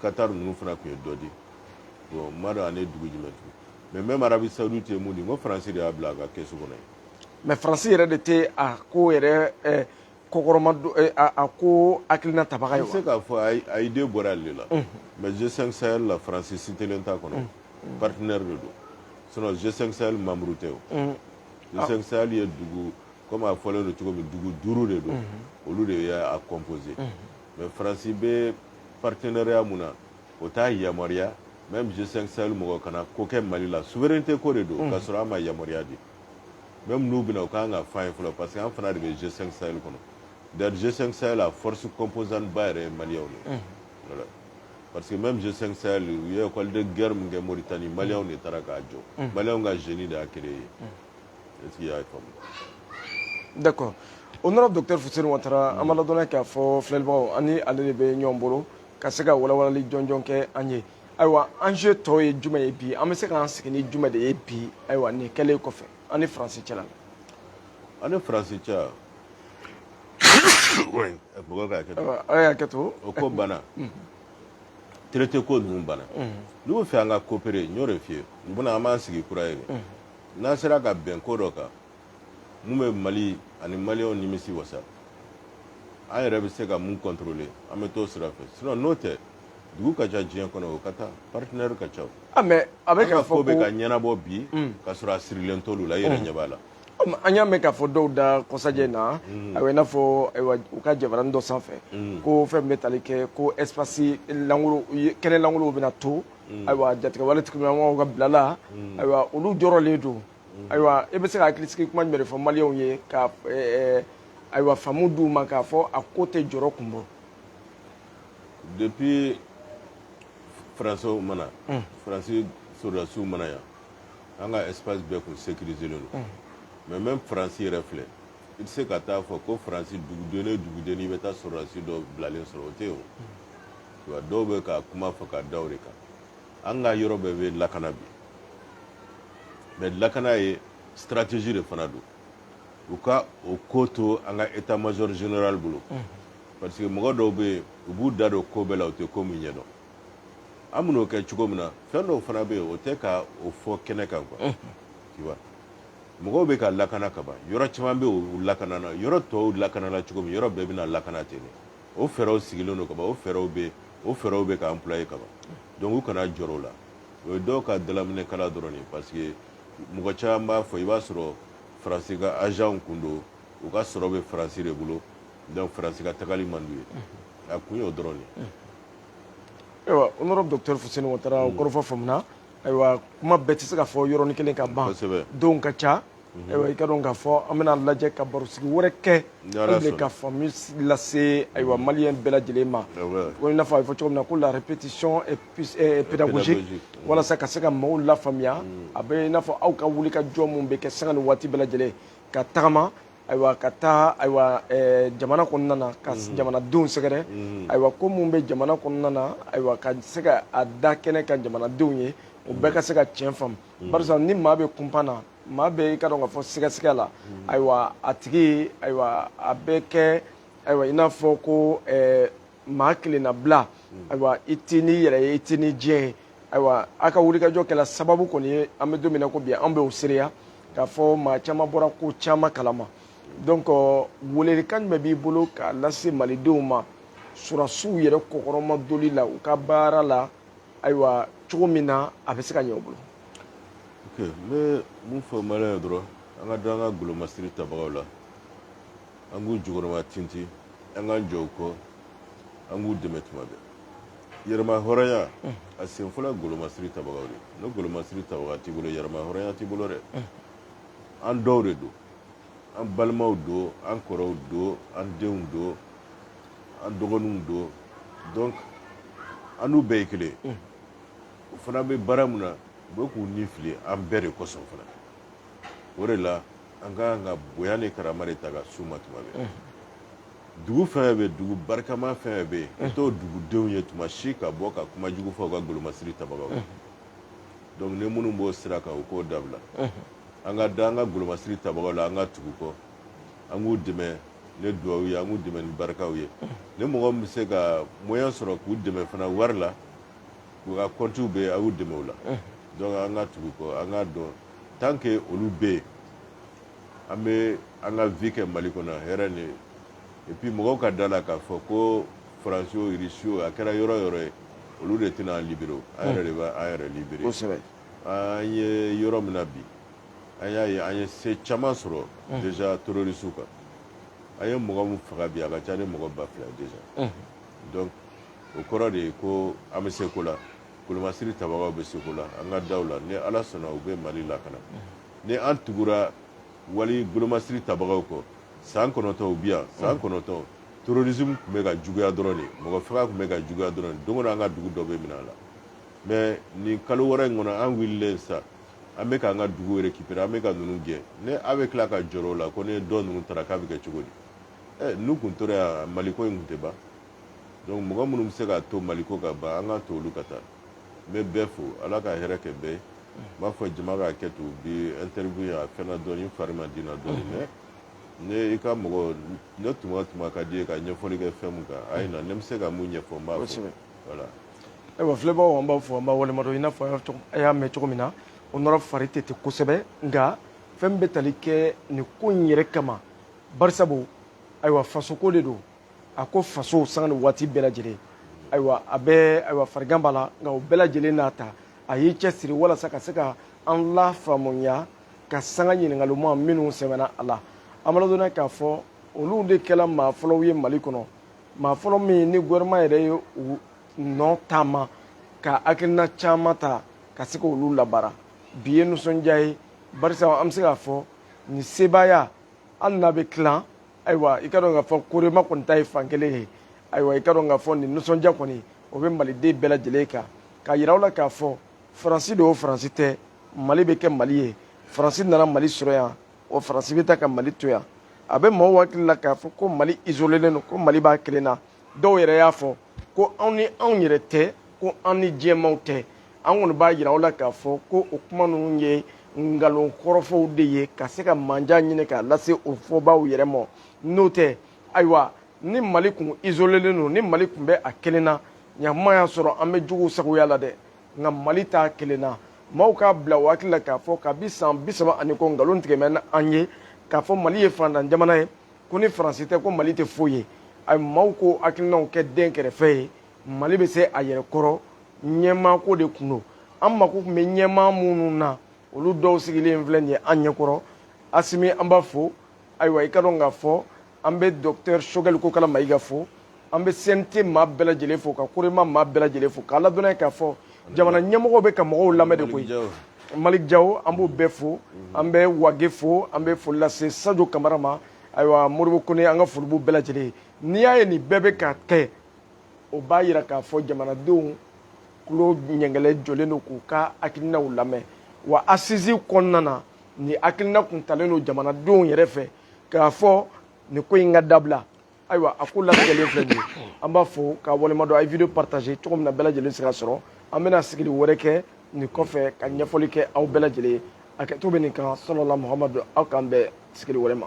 Qatar ninnu fana tun ye dɔ di. Bon n m'a dɔn ani dugu jumɛn tugun. Mais même Arabie Saoudite ye mun di n ko France de y'a bila a ka kɛsu kɔnɔ yen. Mais France yɛrɛ de tɛ a ko yɛrɛ kɔkɔrɔma a ko hakilina tabaga ye wa? se k'a fɔ a idée bɔra ale la mais G5 Sahel la France citélen t'a kɔnɔ partenaire de don sinon G5 Sahel membre tɛ o G5 Sahel ye dugu comme a fɔlen don cogo min dugu duuru de don olu de y'a composé mais France bɛ partenariat mun na o t'a yamaruya même G5 Sahel mɔgɔ kana ko kɛ Mali la souveraineté ko de don k'a sɔrɔ an ma yamaruya di même n'u bɛ na u ka kan k'a f'an ye fɔlɔ parce que an fana de bɛ G5 Sahel kɔnɔ d'ailleurs G5 Sahel a force composante ba yɛrɛ ye maliyɛnw de voilà parce que même G5 Sahel u ye école de guerre min kɛ Mauritanie maliyɛnw de taara k'a jɔ maliyɛnw ka génie de y'a créé est-ce que i y'a faamu d'accord honorable docteur Fuseni Watara an b'a ladɔnniya k'a fɔ filɛlibagaw ani ale de bɛ ɲɔgɔn bolo ka se ka walawalali jɔnjɔn kɛ an ye ayiwa enjeu tɔw ye jumɛn ye bi an bɛ se k'an sigi ni jumɛn de ye bi ayiwa nin kɛlen kɔfɛ an ni faransi cɛla la an ni faransi cɛ mɔgɔ ka hakɛ to aw y'a kɛ to o ko banna traité ko ninnu banna n'u bɛ fɛ an ka coopérer n y'o de f'i ye u bɛ na an b'an sigi kura ye de n'an sera ka bɛn ko dɔ kan mun bɛ mali ani maliyɛnw nimisi wasa an yɛrɛ bɛ se ka mun kɔntorole an bɛ t'o sira fɛ sinon n'o tɛ dugu ka ca diɲɛ kɔnɔ o ka taa partenaire ka ca ah, mais a bɛ k'a fɔ ko bɛ ka ɲɛnabɔ bi hmm. ka sɔrɔ a sirilen t'olu la i yɛrɛ hmm. ɲɛ b'a la an y'a mɛn k'a fɔ dɔw da kɔsajɛ in na hmm. ayiwa i n'a fɔ ayiwa u ka jabarani dɔ sanfɛ ko fɛn min bɛ tali kɛ ko espace langolo kɛnɛ langolow bɛna to ayiwa jatigɛwale tigilamɔgɔw ka bila la ayiwa olu jɔrɔlen don ayiwa e bɛ se ka hakilisigi kuma jumɛn de fɔ maliyɛnw ye ka ayiwa faamu d'u ma k'a fɔ a ko tɛ jɔrɔ kun bɔ depuis faransiw ma na faransi sɔrɔdasiw ma na yan an ka espace bɛɛ kun sécurisélen don mais même faransi yɛrɛ filɛ i tɛ se ka taa fɔ ko faransi duguden o duguden i bɛ taa sɔrɔdasi dɔ bilalen sɔrɔ o tɛ yen o dɔw bɛ ka kuma fɔ ka da o de kan an ka yɔrɔ bɛɛ bɛ lakana bi mais lakana ye stratégie de fana don u ka o ko to an ka état major général bolo parce que mɔgɔ dɔw bɛ yen u b'u da don ko bɛɛ la u tɛ ko min ɲɛdɔn an bɛn'o kɛ cogo min na fɛn dɔw fana bɛ yen o tɛ ka o fɔ kɛnɛ kan quoi tu vois mɔgɔw bɛ ka lakana kaban yɔrɔ caman bɛ yen u lakanana yɔrɔ tɔw lakanana cogo min yɔrɔ bɛɛ bɛna lakana ten de o fɛɛrɛw sigilen don kaban o fɛɛrɛw bɛ o fɛɛrɛw bɛ ka employer kaban donc u kana jɔrɔ o la o ye dɔw ka dalaminɛ kala dɔrɔn ye parce que mɔgɔ caman b'a fɔ i b'a sɔrɔ faransi ka agentw kun don u ka sɔrɔ bɛ faransi de bolo donc faransi ka tagali man d'u ye a kun y'o dɔrɔn ye ayiwa honorable docteur fuseni ouattara o kɔrɔfɔ faamuna ayiwa kuma bɛɛ tɛ se ka fɔ yɔrɔnin kelen ka ban kosɛbɛ don ka ca ayiwa i k'a dɔn k'a fɔ an bɛn'a lajɛ ka barosigi wɛrɛ kɛ de ka faamu lase ayiwa maliyɛn bɛɛ lajɛlen ma ko i n'a fɔ a bɛ fɔ cogo min na ko la répétition est euh, pédagogique walasa ka se ka maaw lafaamuya a bɛ i n'a fɔ aw ka wulikajɔ min bɛ kɛ sanga ni waati bɛɛ lajɛlen ka tagama ayiwa ka taa ayiwa eh, jamana kɔnɔna na ka mhm. jamanadenw sɛgɛrɛ mhm. ayiwa ko minnu bɛ jamana kɔnɔna na ayiwa ka se ka a da kɛnɛ kan jamanadenw ye u bɛɛ ka se ka tiɲɛ faamu mm. barisa ni maa bɛ kunpan na maa bɛ i k'a dɔn k'a fɔ sigasiga la mm. ayiwa a tigi ayiwa a bɛ kɛ ayiwa i n'a fɔ ko eh, maa kelennabila mm. ayiwa i tɛ n'i yɛrɛ ye i tɛ ni diɲɛ ye ayiwa a ka wulikajɔ kɛra sababu kɔni ye an bɛ don min na ko bi an bɛ o seereya k'a fɔ maa caman bɔra ko caman kalama donc euh, welelikan jumɛn b'i bolo k'a lase malidenw ma sɔrɔdasiw yɛrɛ kɔkɔrɔma doli la u ka baara la ayiwa cogo min na a bɛ se ka ɲɛ u bolo ok n bɛ mun fɔ maliyɛn ye dɔrɔn an ka da an ka golomasiri tabagaw la an k'u jukɔrɔmatintin an k'an jɔ u kɔ an k'u dɛmɛ tuma bɛɛ yɛrɛmahɔrɔnya a sen fɔlɔ golomasiri tabagaw de ni golomasiri tabaga t'i bolo yɛrɛmahɔrɔnya t'i bolo dɛ an dɔw de don an balimaw don an kɔrɔw don an denw don an dɔgɔninw don donc an n'u bɛɛ ye kelen ye u fana bɛ baara min na u bɛ k'u ni fili an bɛɛ de kosɔn fana o de la an ka kan ka bonya ni karama de ta ka s'u ma tuma bɛɛ dugu fɛn bɛ dugu barikama fɛn bɛ yen i t'o dugudenw ye tuma si ka bɔ ka kuma jugu fɔ u ka golomasiri tabagaw donc ni minnu b'o sira kan u k'o dabila an ka da an ka golomasiri tabagaw la an ka tugu u kɔ an k'u dɛmɛ ni duwawu ye an k'u dɛmɛ ni barikaw ye ni mɔgɔ min bɛ se ka moyen sɔrɔ k'u dɛmɛ fana wari la u ka kɔntiw bɛ yen a y'u dɛmɛ o la donc an ka tugu u kɔ an k'a dɔn tant que olu bɛ yen an bɛ an ka vie kɛ mali kɔnɔ hɛrɛ ni et puis mɔgɔw ka da a la k'a fɔ ko faransi o irisi o a kɛra yɔrɔ o yɔrɔ ye olu de tɛna an libérer an yɛrɛ de bɛ an yɛrɛ libérer An ye yɔrɔ min na bi an y'a ye an ye se caman sɔrɔ déjà terroristew kan an ye mɔgɔ min faga bi a ka ca ni mɔgɔ ba fila déjà donc o kɔrɔ de ye ko an bɛ se ko la golomasiri tabagaw bɛ se ko la an ka da u la ni ala sɔnna u bɛ mali lakana ni an tugura mali golomasiri tabagaw kɔ san kɔnɔntɔn u bɛ yan san kɔnɔntɔn terrorisme tun bɛ ka juguya dɔrɔn de mɔgɔ faga tun bɛ ka juguya dɔrɔn don o don an ka dugu dɔ bɛ mina a la mais nin kalo wɔɔrɔ in kɔnɔ an wililen sa an bɛ k'an ka dugu récupérer an bɛ ka ninnu gɛn ni a bɛ tila ka jɔrɔ o la ko ni dɔ ninnu taara k'a bɛ kɛ cogo di ɛ n'u kun tora yan maliko in tun tɛ ban donc mɔgɔ minnu bɛ se k'a to maliko ka ban an k'a to olu ka taa n bɛ bɛɛ fo ala ka hɛrɛ kɛ bɛɛ ye n b'a fɔ jama ka hakɛto bi interview in a fɛnna dɔɔni n fari ma di n na dɔɔni mais ne i ka mɔgɔ ne tuma tuma ka di ye ka ɲɛfɔli kɛ fɛn min kan a ye na ne bɛ se ka mun ɲɛfɔ n b'a fɔ voilà ayiwa filɛbaaw an b'a fo an b'a waleɲumandɔn i n'a fɔ a y'a mɛn cogo min na honorable fari tɛ ten kosɛbɛ nka fɛn bɛ tali kɛ nin ko in yɛrɛ kama barisabu ayiwa fasoko de don a ko faso sanga ni waati bɛɛ lajɛlen ayiwa a bɛ ayiwa farigan b'a la nka o bɛɛ lajɛlen n'a ta a y'i cɛsiri walasa ka se ka an lafaamuya ka sanga ɲininkalimaw minnu sɛbɛnna a la an b'a ladɔnniya k'a fɔ olu de kɛla maa fɔlɔw ye mali kɔnɔ maa fɔlɔ min ni gouvernement yɛrɛ ye u nɔ taama ka hakilina caman ta ka se k'olu labaara bi ye nisɔndiya ye barisa an bɛ se k'a fɔ nin sebaaya hali n'a bɛ tilan ayiwa i k'a dɔn k'a fɔ korema kɔni ta ye fan kelen ye ayiwa i k'a dɔn k'a fɔ nin nisɔndiya kɔni o bɛ maliden bɛɛ lajɛlen kan k'a yira aw la k'a fɔ faransi don o faransi tɛ mali bɛ kɛ mali ye faransi nana mali sɔrɔ yan o faransi bɛ taa ka mali to yan a bɛ maaw hakili la k'a fɔ ko mali isolelen don ko mali b'a kelen na dɔw yɛrɛ y'a fɔ ko anw ni anw yɛrɛ tɛ ko an ni diɲɛmaw tɛ an kɔni b'a yira aw la k'a fɔ ko o kuma ninnu ye nkalon kɔrɔfɔw de ye ka se ka manja ɲini k'a lase o fɔbaaw yɛrɛ ma n'o tɛ ayiwa ni mali kun isolelen don ni mali kun bɛ a kelen na ɲakuma y'a sɔrɔ an bɛ juguw sagoya la dɛ nka mali t'a kelen na maaw k'a bila o hakili la k'a fɔ kabi san bi saba ani kɔ nkalon tigɛ mɛnna an ye k'a fɔ mali ye faantan jamana ye ko ni faransi tɛ ko mali tɛ foyi ye a maaw k'o hakilinaw kɛ den kɛrɛfɛ ye mali bɛ se a yɛrɛ kɔrɔ ɲɛmaako de tun don an mako tun bɛ ɲɛmaa minnu na olu dɔw sigilen filɛ nin ye an ɲɛkɔrɔ asimi an b'a fo ayiwa i ka dɔn k'a fɔ an bɛ dɔkutɛri sogɛli kokala mayiga fo an bɛ CNT maa bɛɛ lajɛlen fo ka korema maa bɛɛ lajɛlen fo k'a ladɔnniya k'a fɔ jamana ɲɛmɔgɔw bɛ ka mɔgɔw lamɛn de koyi malik jaw an b'o bɛɛ fo an bɛ wage fo an bɛ foli lase sajo kamara ma ayiwa modibo kone an ka foli b'u bɛɛ lajɛlen ye n'i y'a ye nin bɛɛ bɛ ka kɛ o b'a yira k'a fɔ jamanadenw tulo ɲɛgɛlɛ jɔlen don k'u ka hakilinaw lamɛn wa assises kɔnɔna na nin hakilina kun talen don jamanadenw yɛrɛ fɛ k'a fɔ nin ko in ka dabila ayiwa a ko latigɛlen filɛ nin ye an b'a fo k'a waleɲumandɔn a ye vidéo partager cogo min na bɛɛ lajɛlen se k'a sɔrɔ an bɛna sigili wɛrɛ kɛ nin kɔfɛ ka ɲɛfɔli kɛ aw bɛɛ lajɛlen ye a kɛto bɛ nin kan salala muhamadu aw k'an bɛn sigili wɛrɛ ma